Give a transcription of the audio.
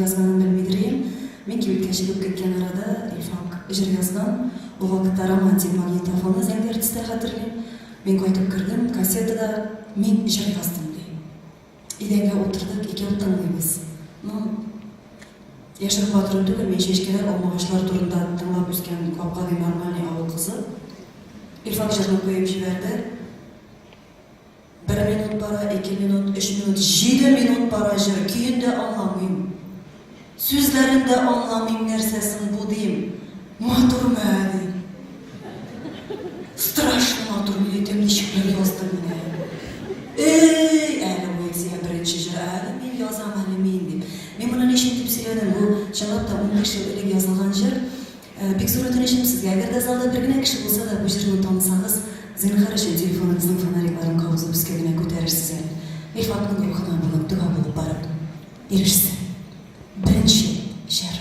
Язганын белмидер идем, мин кибеткә чыгып киткән арада Илфак җыр язган, ул вакытта Романтик магнитофонны Зәңгәр төстә хәтерлим, мин кайтып кердем, кассетада Мин җыр яздым ди. Идәнгә утырдык, икәү тыңлыйбыз. Ну, яшереп батыру түгел, мин чәчкәләр, алмагачлар турында тыңлап үскән гап-гади нормальный авыл кызы. Илфак җырны куеп җибәрде. Бер минут бара, ике минут, өч минут, җиде минут бара җыр, көен дә аңламыйм. Сүзләрен дә аңламыйм, нәрсә соң бу дим. Матурмы әле? Страшно матур, егетем ничек бер язды менә. Эй, әле поэзия беренче җыр, әле мин язам, әле мин дип. Мин моны ничек дип сөйләдем, бу чынлап та унбиш ел элек язылган җыр. Бик зур үтенечем сезгә, әгәр дә залда бер генә кеше булса да бу җырны танысагыз, зинһар өчен телефоныгызның фонарикларын кабызып өскә генә күтәрерсез әле. Мифтахның рухына бүген дога булып барып ирешсен. Беренче җыр.